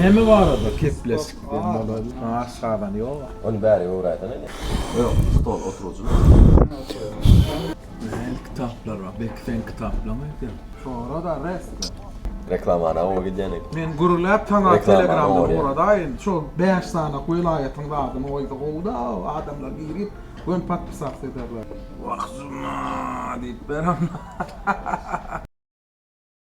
Näme barada keplesikden bolady? Maaş gazan ýoga. Ony bäri öwräýsene indi. Ýok, stol oturujyny. Nähili kitaplar bar? Belki seň kitaplaň öýdýär. Sora-da resmi. Reklamany awa gidýänik. Men gürläp saňa telegramdan uradaýyn. Şo bäş sanak welaýatyň zadyny goýsa gowy-da, adamlar girip göni podpisats ederler. Wah juma diýip ber onda.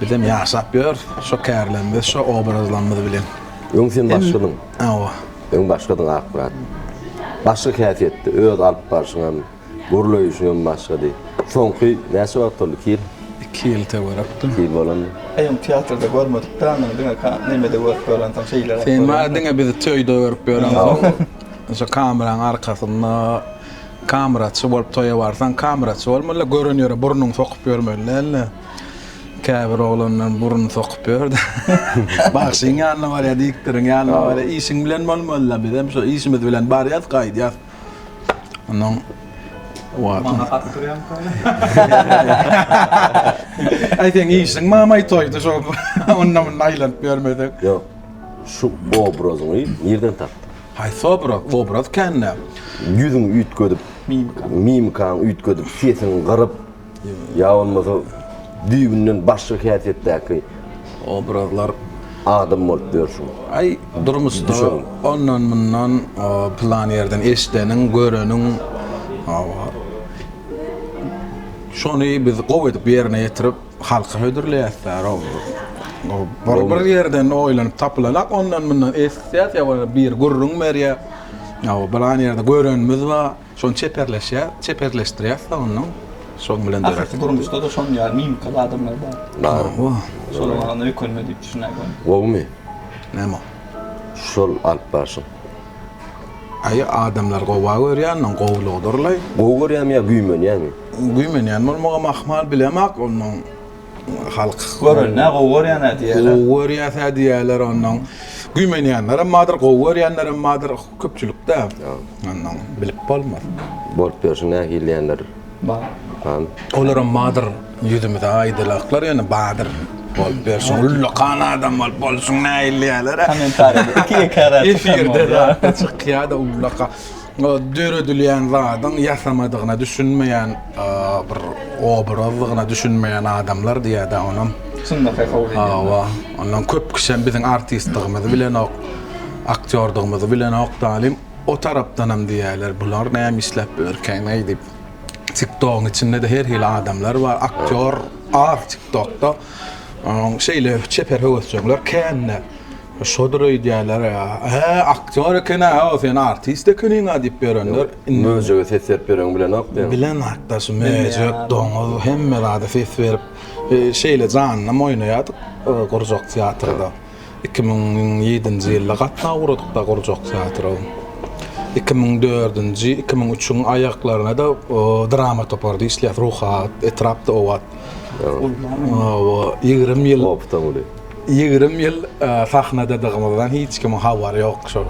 Bizem ýaşap ýörüs şo kärlerimiz, şo obrazlarymyz bilen. Öň sen başgadyň. Hawa. Öň başgadyň Akmyrat. Başga häsiýetdi, öz alyp barşyň hem, gürleýişiň hem başgady. Soňky näçe wagt boldy, iki ýyl? Iki ýyl töwerekdir. Iki ýyl bolandyr. Eý, ony teatrda görmedik dä, ony diňe nemede görüp ýörensiň, şeýleräk. Sen maňa diňe bizi toýda görüp ýörensiň. Şo kameranyň arkasynda kameraçy bolup toýa barsaň, kameraçy bolmaly, gören ýere burnuňy sokup ýörmeli däl-de. Käbir oglanlar burun sokup ýörde. Bagşyň ýanyna barýar, diktoriň ýanyna barýar. Işiň bilen bolmaly-la, biz hem şo işimiz bilen barýas, gaýdýas. Onnoň Mama hat durýamyka? Aý seň işiň mamaý toýda şo onda-munda aýlanyp ýörmeseň. Ýok. Şu obrazyňy nirden tapdyň? Haýsy obraz? Obraz kän-dä. Ýüzüňi üýtgedip, mimikaňy üýtgedip, sesiňi gyryp. Ýa bolmasa düýbünden başga häsiýetdäki obrazlar adam bolup ýörşüň. Aý, durmuşda ondan-mundan pylan ýerden eşideniň, göreniň, şony biz gowy edip ýerine ýetirip, halka hödürleýäs-dä, bir ýerden oýlanyp tapylanok, ondan-mundan eşitýäs, ýa bolmasa biri gürrüň berýär, ýa pylan ýerde görenimiz bar. Şony çeperleşýär, çeperleşdirýär soňundan. Şoň bilen döräp. Aslysy durmuşda-da şonuň ýaly mimikaly adamlar bar. Bar. Şolar maňa öýkelme diýip düşünäýdim. Gowumy? Näme o? Şol alyp barşyň. Aý, adamlary gowa görýändiň, gowulygydyr-laý. Gowy görýämi ýa güýmenýäňmi? Güýmenýän bolmagam ahmal, bilemok ondan. Halk gören nä gowy görýänä diýýärler. Gowy görýäsä diýýärler ondan. Güýmenýänlerem bardyr, gowy görýänlerem bardyr. Köpçülikde ondan bilip bolmaz. Bolup ýörşüň nähili diýýänler. Bar. Bar. Olaram bardyr. Ýüzümize aýdylaklar ýöne bardyr. Bolup ýörşüň ullakan adam bolup bolşuň nähili diýýärler. Kommentariýada iki-iki ara çykan bolýar. Efirde zatda çykýar-da ullakan. Döredilýän zadyň ýasamadygyna düşünmeýän bir obrazdygyna düşünmeýän adamlar diýýädä onam. Çynda tehowa edýän. Hawa. Ondan köp kişem biziň artistdigimizi bilenok, aktýordygymyzy bilenok dalin. O tarapdanam diýýäler bular näme işläp bilerkäňeý diýip. Tiktogyň içinde-de her hili adamlar bar. Aktýor az tiktokda. Şeýle çeper höwesjeňler kän-de. Şodur öýdýärler, He, aktýor eken-ä, hawa, sen artist ekeniň-ä diýip ýörenler. Möjege ses berip ýöreňi bilenok diýen. Bilenok-da, şu möjek, doňuz, hemme zada ses berip, şeýle janynam oýnaýardyk gurjak teatrda. Iki müň ýedinji ýylda gatnaw guradyk-da gurjak teatra. Iki müň dördünji, iki müň üçüň aýaklaryna-da drama toparda işleýäs, Ruhubad, etrap Dowat. Ýigrimi ýyl. Opytam uly. Ýigrimi ýyl sahnadadygymyzdan hiç kimiň habary ýok şol.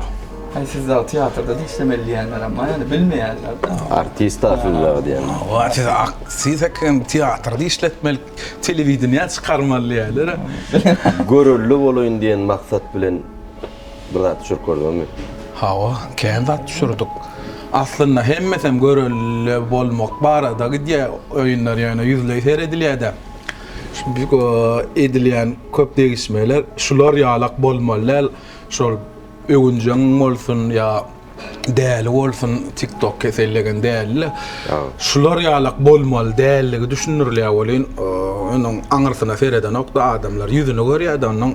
Haý siz dagy teatrda da işlemeli diýýänlerem bar ýaly bilmeýänler de. Artist da siz dagy diýýänler. Hawa siz aktris eken teatrda işletmeli telewideniýä çykarmaly diýýärler. Görelde bolaýyn diýen maksat bilen bir zat düşürip gördüňizmi? Hawa kän zat düşürdik. Aslynda hemmesem görelde bolmak barada gidýär oýunlar ýöne ýüzleý seredilýär-de. Edilýän köp degişmeler şular ýalak bolmaly däl, şol öwünjeň bolsun ýa däli bolsun, tiktok kesellegen dälile. Şular ýalak bolmaly däldigi düşündirilýär welin, onuň aňyrsyna seredenokda adamlar, ýüzüni görýärdi onuň.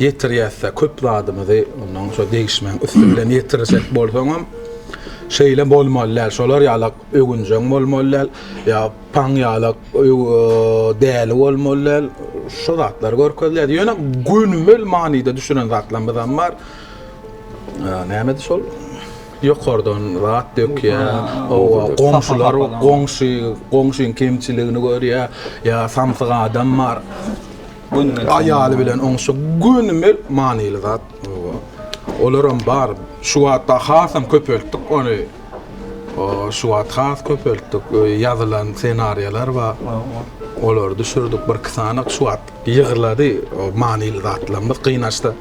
ýetirýäs-dä, köp zadymyzy ondan şo degişmeň üsti bilen ýetirjek bolsaňam, şeýle bolmaly däl, şolar ýalak öwünjeň bolmaly däl, ýa paň ýalak däli bolmaly däl, şo zatlar görkezilýär. Ýöne gönümel manyda düşünen zatlarymyzam bar. Nämedi şol? Ýokardan zat dökýär, oba, goňşular, goňşy, goňşyň kemçiligini görýär, ýa samsyk adam bar. Gönümel aýaly bilen oňşa gönümel manyly zat. Olaram bar. Şu wagtda hasam köpeltdik ony. Şu wagt has köpeltdik. Ýazylan ssenariýalar bar. Olary düşürdik. Bir iki sany şu wagt ýygrylady. O manyly zatlarymyz gynaçda.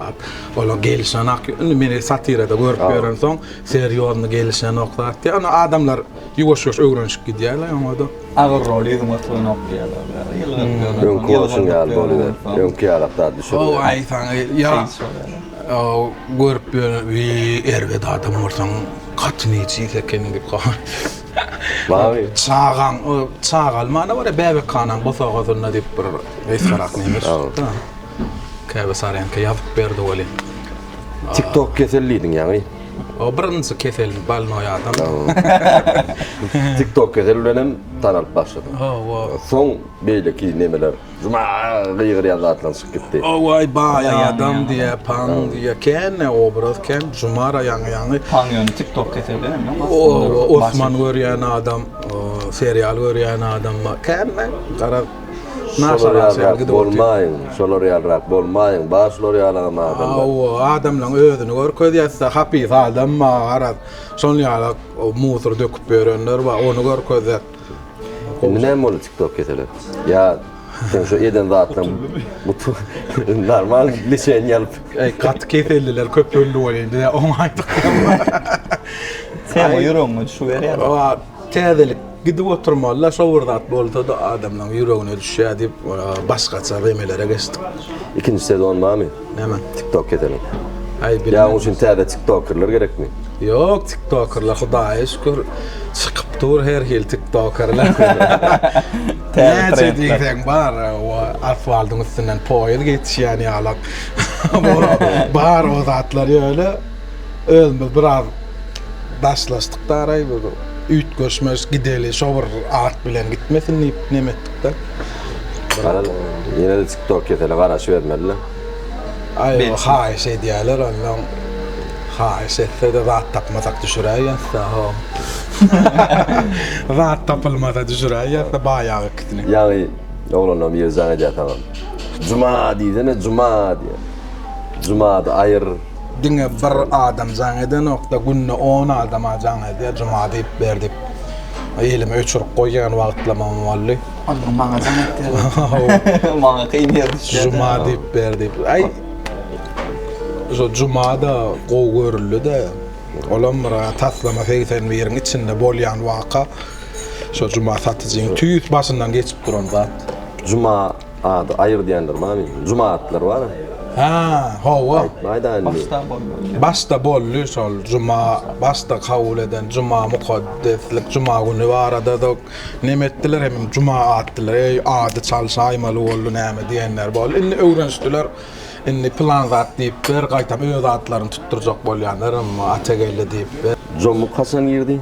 Olar gelişenak. Indi meni satirada görüp ýörensoň, serýozny gelişenok zat. Ýöne adamlar ýuwaş-ýuwaş öwrenişip gidýärler oňa-da. Agyr rol ýüzüň oturanok diýýärler. Öňki bolşuň ýaly boluber. Öňki ýalak zat düşürme. Ow aý saňa ýa. Ow görüp ýöne wi erbet adam bolsaň gaty nejis ekeniň diýip goýan. Baý. Çagaň çagaly many bar ýa bäbekhanaň bosagasynda diýip bir wesgarak neme çykda. Käbesarýanka ýazyp berdi welin. Tiktok kesel diýdiň ýaňy. O birinji keselim bolnoý adam. Tiktok keseli bilen hem tanalyp başladym. Hawa. Soň beýleki nemeler juma gygyrýan zatlaryň çykyp gitdi. Hawaý baý adam diýä, pan diýä. Kän obraz kän jumara ýaňy ýaňy. Pan ýöne tiktok keseli hem ýok aslynda. Osman görýän adam, serial görýän adam kän garaz. Şolar ýalrak bolmaýyň, şolar ýalrak bolmaýyň, bar şular ýalagam adamlar. Hawa, adamlaň özüni görkezýäs-dä, hapis adam bar, garaz, şol ýalak musor döküp ýörenler bar, ony görkezýäs. Indi näme boldy TikTok keseli? Ýa seň şu eden zatlaň gutulyp, normal lişeniýa alyp. Eý, gaty keselliler köpeldi welin, bizä oňaýdyk. Sen ýüregiňe düşüberýär. Täzelik gidip oturmaly-da, şo bir zat bolsa-da adamlaryň ýüregine düşýär diýip, başgaça remelere geçdik. Ikinji sezon barmy? Näme? TikTok keseliň. Aý bilmän. Ýa onuň üçin täze tiktokerler gerekmi? Ýok, tiktokerler Hudaýa şükür çykyp dur her hili tiktokerler. Näçe diýseň bar, asfaldyň üstünden poýez geçýän ýalak. Bar o zatlar ýöne. Özümiz biraz daşlaşdyk daraý bir üýtgeşmeş gideli şo bir at bilen gitmesin diýip neme etdikde. Baran ýene-de TikTok kesele garaşybermeliler. Aý haýyş edýäler onnoň haýyş etse-de zat tapmasak düşüräý ýazsa ho. Zat tapylmasa düşüräý ýazsa baýagy ikisini. Ýaňy oglanlaryň biri jaň edýär saňa. Juma diýsene juma diýýär. Jumady aýyr. Diňe bir adam jaň edenokda günde on adama jaň edýär juma diýip ber diýip elimi öçürip goýýan wagtlamam boldy. Onda maňa jaň etýärler. Maňa kyn ýer düşýär. Juma diýip ber diýip. Aý. Şu juma da gowy görüldi de. Olam bir taslama 81-iň içinde bolýan waka. Şu juma satyjyň tüýs başyndan geçip duran zat. Juma Ady Aýgyt diýendir many. Juma atlar bar. Hä, hawa. Aýtmaýda indi. Başda boldy. Başda boldy şol juma, başda kabul eden juma mukaddeslik juma güni barada-da neme etdiler hemem juma atdylar. Eý, ady çalşaýmaly boldy näme diýenler boldy. Indi öwrenişdiler. Indi pylan zat diýipdir, gaýtam öz atlaryny tutdurjak bolýanlar, Atageldi diýipdir. Jomuk haçan girdi?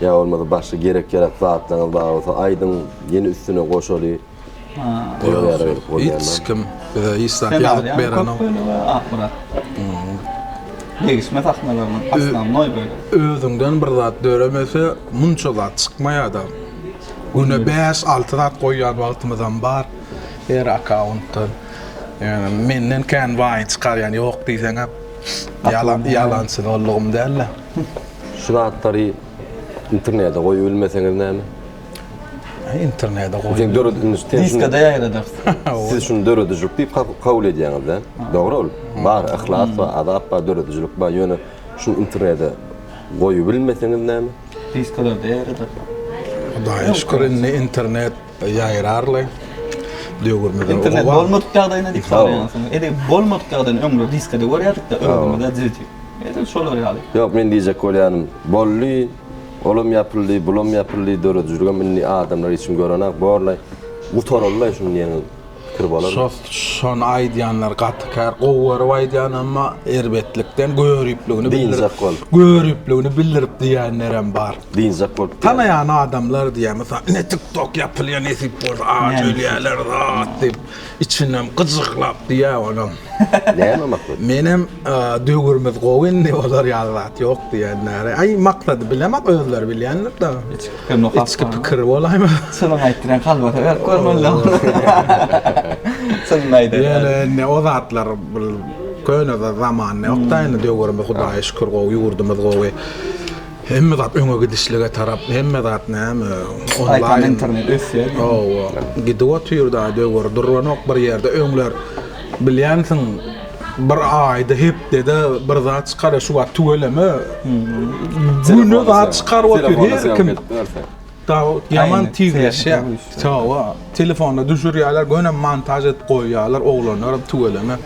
Ýa bolmasa başga gerek-ýarak zatlaryňyz bar bolsa aýdyň, ýene üstüne goşaly. Hiç kim bize hiç zat ýazyp berenok. Degişme sahnalarynyň aslamnoý bölegi. Özüňden bir zat döremese, munça zat çykmaýar-da. Güne bäş-alty zat goýýan wagtymyzam bar her akkauntdan. Menden kän baýy çykarýan ýok diýseňem ýalançy dollugym däl-de. Şu zatlary internede goýup bilmeseňiz näme? Internede goýup. Sen döredilmiş sen. Diskada ýaýradar. Siz şuny döredijilik diýip kabul edýäňiz-de. Dogry ol. Bar, yhlas bar, azap bar, döredijilik bar. Ýöne şuny internede goýup bilmeseňiz näme? Diskalarda ýaýradar. Hudaýa şükür indi internet Ýaýrarly döwrümizde internet bolmadyk ýagdaýynda diýip soraýansyň. Edi bolmadyk ýagdaýynda öňler diskede görýärdik-de ömrümizde dizdi. Edil şolar ýaly. Ýok, men diýjek bolýanym, boldy, olam ýapyldy, bulam ýapyldy, döredijiligem indi adamlar içgin görenak borlaý. Gutaryldy-laý şuny diýeniň. pikir bolar. Şony aýdýanlar gaty kär, gowy görüp aýdýan emma erbetlikden göripligini bildirip göripligini bildirip diýenlerem bar. Dynjak bolup. Tanaýan adamlar diýýär mysal ine tik tok ýapylýar nesip bolsa aç ölýärler zat diýip içinden gyjyklap diýýär onam. Näme maksat? Menem döwürimiz gowy indi olar ýaly zat ýok diýenleri. Aý maksady bilemok özleri bilýändir da. Pikir nokap. Içki pikir bolaýma. Çynyňy aýt diýen kalbata berip görmeli. Çynyny aýdar. Ýöne indi o zatlar bir köne zaman ýokda indi döwürimiz Hudaýa şükür gowy ýurdumyz gowy. Hemme zat öňe gidişlige tarap hemme zat näme onlaýyn internet ösýär. Hawa. Gidip otyr da döwür duranok bir ýerde öňler Bilýänsiň, bir aýda, hepdede bir zat çykar, şu wagt tüweleme, güne zat çykaryp otyr her kim. Ýaman tizleşýär. Hawa, telefona düşürýärler, göni montaž edip goýýarlar, oglanlar hem tüweleme.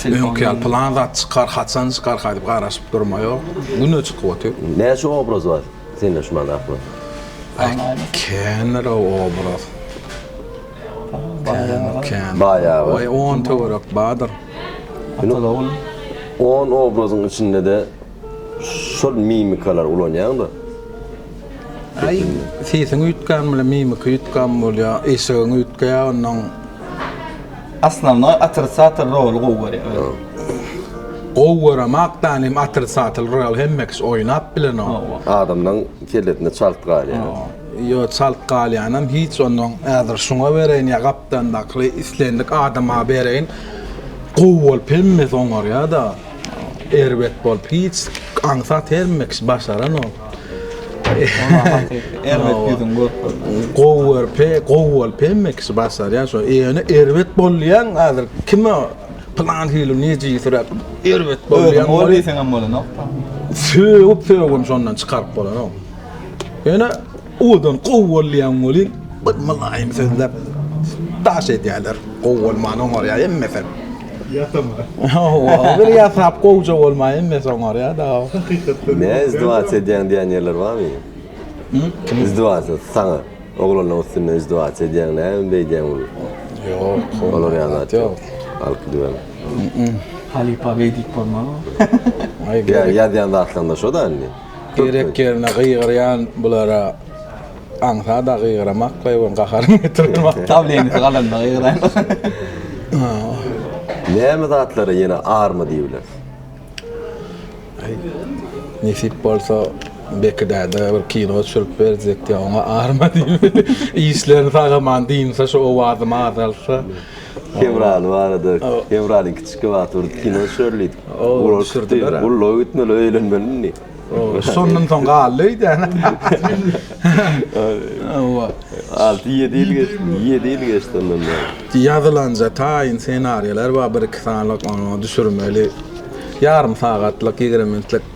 Öňki ýaly plan zat çykar, haçan çykar diýip garaşyp durma ýok. Güne çykyp otyr. Näçe obraz bar sende şu many aklanda? Kändir-ow obraz. Baýagy. On töwerek bardyr. On obrazyň içinde-de şol mimikalary ulanýaňda. Aý, sesiň üýtgän bilen mimika üýtgän bolýar, eşigiň üýtgeýär onnoň. Aslanlar otrisatel roly gowy görýär. Gowy göremak dan hem otrisatel rol hemme kişi oýnap bilenok. Adamlaň kellesinde çalt galýar. Ýo, çalt galýanam hiç onnoň. Häzir şuňa bereýin ýa gapdandakly islendik adama bereýin. Gowy bolup hemmesi oňarýa-da. Erbet bolup hiç aňsat hemme kişi başaranok. Oňa hakyky erbet ýüzüňi görüp bildim. Gowy görüp he, gowy bolup hemme kişi başarýa şo. Ýöne erbet bolýaň häzir kime pylan hili nejisiräk erbet bolýaň. Özüňi gowy diýseňem bolanok-da. Sögüp-sögüp hem şondan çykaryp bolanok. Ýöne owadan gowy bolýan welin bir mylaýym sözläp daş edýärler. Gowy bolman oňarýar hemmesi. Ýasama. Hawa, bir ýasap gowja bolman hemmesi oňarýar-da. Hakykatdan. Ne izdywat edýäň diýen ýerler barmy? Izdywat saňa. Oglanlaryň üstünde izdywat edýäň, näme beýdýäň muny? Ýok, olar ýaly zat ýok. Alyp gidibem. Halypa beýdip bolmaz. Ýa ýazýan zatlaryňda şo-da indi. Gerek ýerine gygyrýan bulara aňsat-a gygyramak goýberiň gaharyň getirermi. Dawleniýasy galanda gygyraýmaly. Näme zatlara ýene arma diýibiler? Aý, nesip bolsa Beki däde bir kino düşürip berjekdi, oňa arma diýmeli. Işlerini sagaman dynsa, şu owazymy azaltsa. Kewraly barada, Kewraly kiçi wagt bir kino düşer diýip, ula düşürdiler. Ulla gitmeli, öýlenmeli indi. Şondan soň galdy öýdäne. Hawa. Alty-ýedi ýyl geçdi, ýedi ýyl geçdi ondan bäri. Ýazylanja taýyn ssenariýalar bar, bir-iki sanylyk, onuň düşürmeli. Ýarym sagatlyk, ýigrimi minutlyk.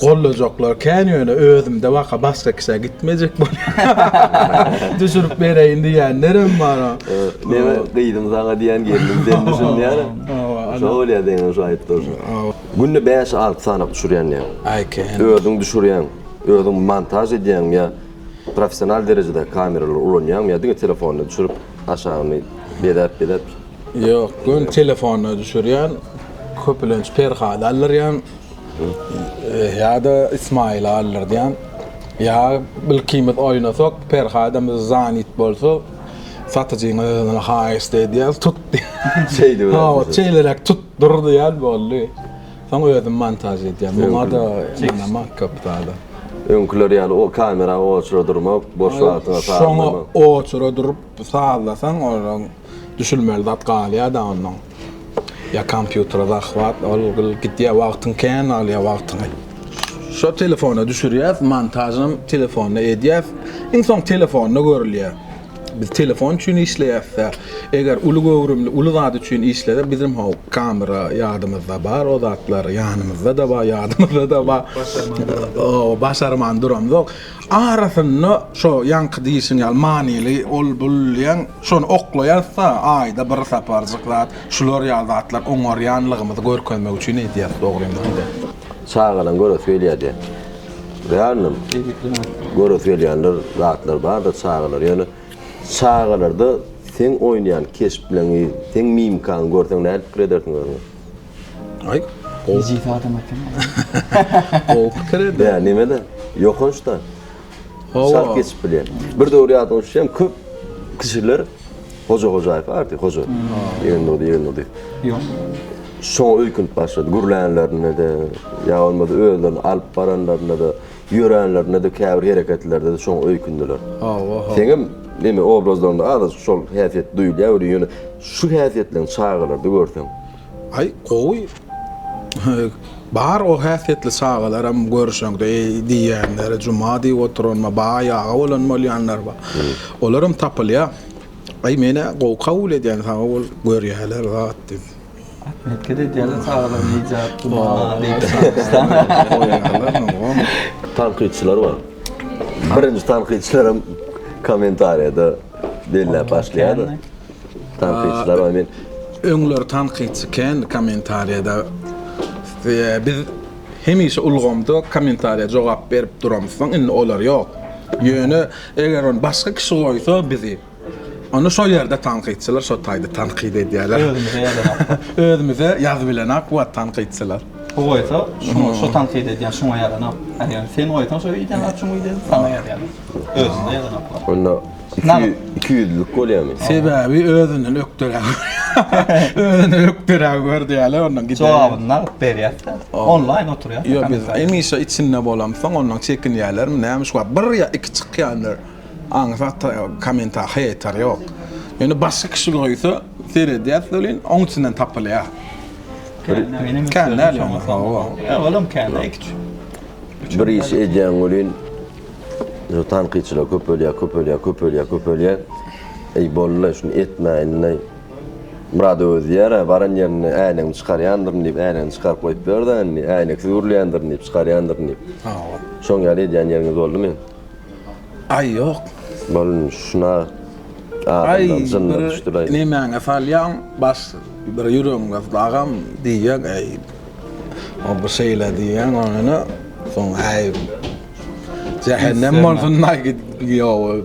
Gollajaklar kän ýöne özümde baka başga kişä gitmejek bolýar. Düşürip bereýin diýýänlerem bar. Meniň gyzym saňa diýýän gelnim sen düşün diýýän. Şo bolýar seňem şo aýdyp durşuň. Günde bäş alty sany düşürýän diýýän. Aý kän. Özüň düşürýäň, özüň montaž edýäňmi ýa professional derejedäki kameralary ulanýaňmy ýa diňe telefonda düşürip aşagyny bezäp bezäp. Ýok, göni telefonda düşürýän. Köpülenç Perhada aldyrýan. Ýa-da Ismaýyly aldyrýan. Ýa ilkimiz oýnasak, Perhadymyz zanit bolsa, satyjynyň özüne haýyşt edýäs, tut diýýän. Şeýdip ýörmüşler. Hawa, şeýleräk tut, dur diýýän, boldy. Soň özüm montaž edýän. Muňa-da ynanmak köp zada. Öňküler ýaly o kamera oçura durmak, boş wagtyňa sazlamak. Şoňa oçura durup sazlasaň, oraň düşülmeli zat galýar-da onnoň. Ya kompýutere zahwat ol gyl gidýär wagtyň kän alýar wagtyňy. Şo telefona düşürýäs montažynam telefonda edýäs iň soň telefonda görülýär. Biz telefon üçin işleýäsdä eger uly göwrümli uly zat üçin işlesek bizem how kamera ýadymyzda bar o zatlar ýanymyzdada bar ýadymyzdada bar o başarman duramzok arasynda şo ýaňky diýişiň ýaly manyly ol bul diýen Şony oklaýasda, aýda bir saparjyk zat şular ýaly zatlar oňarýanlygymyzy görkezmek üçin edýäs, dogrymy? Çagalaň göresi gelýärdi. Realnym. Göresi gelýänler, zatlar bardyr çagalar. Ýöne çagalarda seň oýnaýan keşpleriňi, seň mimikaňy görseň nädip pikir edersiň özüňe? Aý. Ejiz adam ekeni. Gowy pikir eder. Ýa neme-de, ýokanç-da. Salt geçip bilýän. Bir döwür ýadyňa düşýän köp kişiler Hoja Hojaýew arty, Hoja. Ýegen boldy, ýegen boldy. Ýok. Şoňa öýkünip başlady. Gürlänlerinde-de, ýa bolmasa özlerini alyp baranlarynda-da, ýöränlerinde-de käbir hereketlerde-de şoňa öýkündiler. Hawa, hawa. Seňem neme obrazlaryňda azajyk şol häsiýet duýulýar welin ýöne şu häsiýetleriň çagalarda görseň, Aý gowy bar o häsiýetli çagalaram görşeňde eý diýýänler juma diýip oturanma baý aga bolan bolýanlar bar olaram tapylýar aý menä gowy kabul edýän sag bol görýäler zat diýip. Hereket edýäler çagalar nejat juma diýip çagyryşsaň goýýarlar ogam. Tankytçylar bar. Birinji tankytçylaram kommentariýada belläp başlaýarlar. Tankytçylar men öňler tankytçy kän kommentariýada biz hemişe ulgamda kommentariýa jogap berip duramyz soň indi olar ýok. Ýöne eger ony başga kişi goýsa bizi Onda şol ýerde tankytçylar şo taýda tankyt edýärler. Özümize ýazanak. Özümize ýazyp bilenak wagt tankytçylar. Bu goýsa şuňa şo tankyt edýän şuňa ýazanak. Eger sen goýsaň şo ýerde ýazanak şuňa ýerde ýazanak. Özümize ýazanak. Onda Nagt. Iki ýüzlük bolýarmy? Sebäbi özünden ökderäk görýär. Özünden ökderäk gördi ýaly ondan gider. Jogabyny nagt berýär-de, onlaýn oturýar. Ýok, biz hemişe içinde bolamsoň, ondan çekinýärlermi, näme şu wagt bir ýa iki çykýandyr. Aňsat kommenta heýter ýok. Ýöne başga kişi goýsa, seredýäs welin, oň içinden tapylýar. Kän däl ýöne. Ýa olam kän-ä, iki-üç. Bir iş edýäň welin, Şu tankytçylar köpelýär, köpelýär, köpelýär, köpelýär. Eý bollaý, şuny etmäýinleý. Murad özi diýýär-ä, baran ýerinde äýnegimi çykarýandyryn diýip, äýnegini çykaryp goýup ber-dä indi, äýneksiz gürleýändirin diýip, çykarýandyryn diýip. Hawa. Şoň ýaly edýän ýeriňiz boldumy? Aý, ýok. Bol indi, şuna adamdan jynlar düşdülaý. Aý, nemäňe salýaň, baş, bir ýüregiň gyzdy, agam, diýýän, äý, o bir şeýle diýýän, ony, soň, äý, Jähennem bolsun daý gidiýowy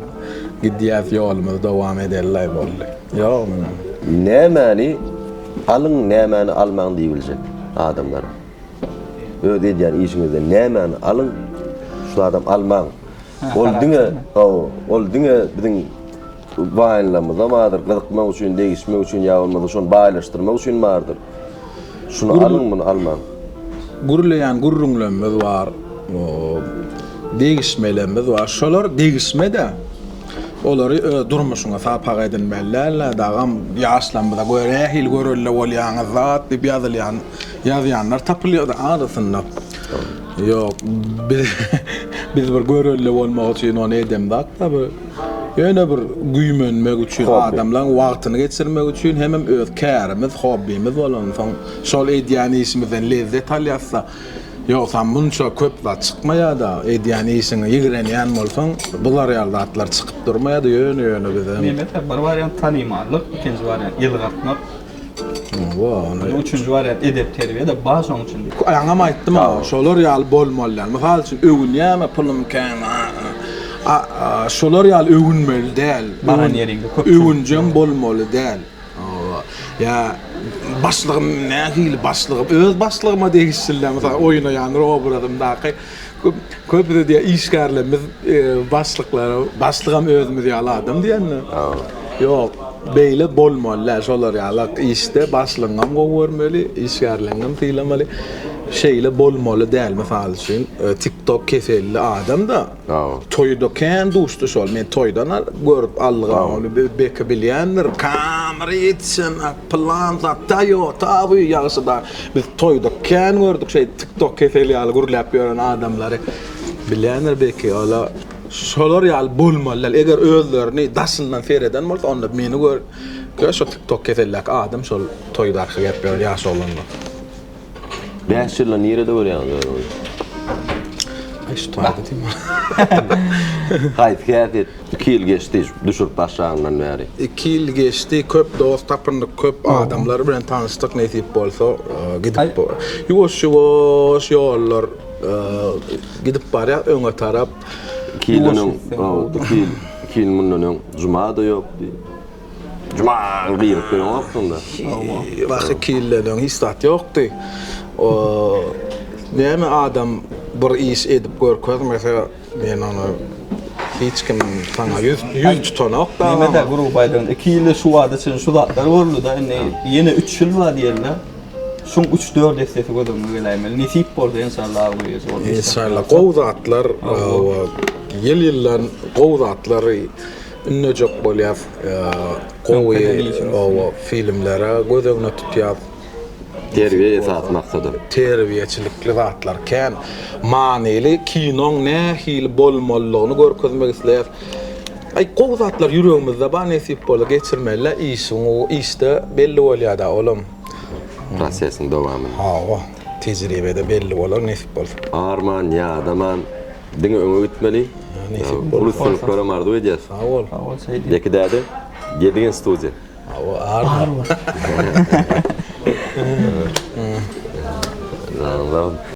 gidýäs ýolumyzy dowam edelidaý boldy. Ýok munuň. Nämäni alyň nämäni almaň diýibiljek adamlara. Öz edýän işiňizden nämäni alyň şu zadam almaň. Ol diňe hawa ol diňe biziň Waýnlamyzda bardyr, gyzykmak üçin, degişmek üçin ýa bolmasa şony baýlaşdyrmak üçin bardyr. Şuny alyň, muny almaň. Gürleýän gürrüňlerimiz bar, degişmelerimiz bar. Şolar degişme-de, olary öz durmuşyňa sapak edinmeli däldir. Dagam ýaşlarymyza göýä nähili görelde bolýaňyz zat diýip ýazylýan, ýazýanlar tapylýar-da arasynda. Ýok, biz bir görelde bolmak üçin ony eden zat-da bu. Ýöne bir güýmenmek üçin, adamlaň wagtyny geçirmek üçin hemem öz kärimiz, hobbimiz bolansoň, şol edýän işimizden lezzet alýasda, ýogsam munça köp zat çykmaýada. Edýän işiňi ýigrenýän bolsaň, bu zarýal zatlar çykyp durmaýada, ýöne-ýöne bizem. Mehmet aga, bir wariant tanymallyk, ikinji wariant ýylgyrtmak. Indi üçünji wariant edep-terbiýe-de bar şoň içinde. Aňam aýtdym-a, şolar ýaly bolmaly däl. Mysal üçin, öwünýärmi, pulum kän, a-a. Şolar ýaly öwünmeli däl. Baran ýeriňde köp. Öwünjeň bolmaly däl. Hawa. Ýa başlygym nähili başlygym? Öz başlygyma degişli-dä, mysal oýnaýan obrazymdaky Köpüsi diýýär, işgärlerimiz başlyklara, başlygam özümiz ýaly adam diýýänler. Ýok, beýle bolmaly-da, şolar ýaly işde başlygyňam gowy görmeli, işgärleriňem sylamaly. Şeýle bolmaly däl, mysal üçin, TikTok keselli adam-da, toýda kän duşdy şol. Men toýdan görüp aldygam, ony Beki bilýändir, kamera ýetişen, pylan zat, Toyota bu ýagşy-da. Biz toýda kän gördük şeý tiktok keseli ýaly gürläp ýören adamlary. Bilýändir belki ola şolar ýaly bolmaly däl. Eger özlerini daşyndan sereden bolsa onda meni gör gör şo tiktok keseldäki adam şol toýda arka gerip ýören ýaş oglanlar. Bäş ýylda nirede görýäňiz özüňizi? Aý şu toýda diýme. Haýsy häsiýet? Iki ýyl geçdi düşürip başlanyndan bäri. Iki ýyl geçdi köp dost tapyndyk köp adamlar bilen tanyşdyk nesip bolsa gidip ýuwaş ýuwaş ýollar gidip barýar öňe tarap. Iki ýyl öň iki ýyl iki ýyl mundan öň jumada ýokdy. Juma girip bilenokdyňda. Wah iki ýyldan öň hiç zat ýokdy. Näme adam bir iş edip görkezmese Men ony hiç kim saňa ýüz ýüz tutanok da. Näme de gurup aýdan. 2 ýylda şu wada çenli şu zatlar boldy-da, indi ýene 3 ýyl bar diýenler. Şuň üç-dört essesi göz öňüňe geläýmeli. Nesip bolsa enşalla agyr ýeji bolar. Enşalla gowy zatlar ýyl-ýyldan gowy zatlary ündejek bolýas. Gowy filmlere göz öňüne tutýas. Terbiýe esasy maksadym. Terbiýeçilikli zatlar kän. Manyly kinoň nähili bolmalydygyny görkezmek isleýäs. Aý gowy zatlar ýüregimizde bar nesip bolsa geçirmelä işiň u işde belli bolýada olam. Prosesiň dowamynda. Hawa tejribede belli bolar nesip bolsa. Arman ýadaman diňe öňe gitmeli. Nesip bolsa. Uly üstünlikler hem arzuw edýäs. Sag bol. Beki däde Gedigin studiýa. Hawa, ar bar.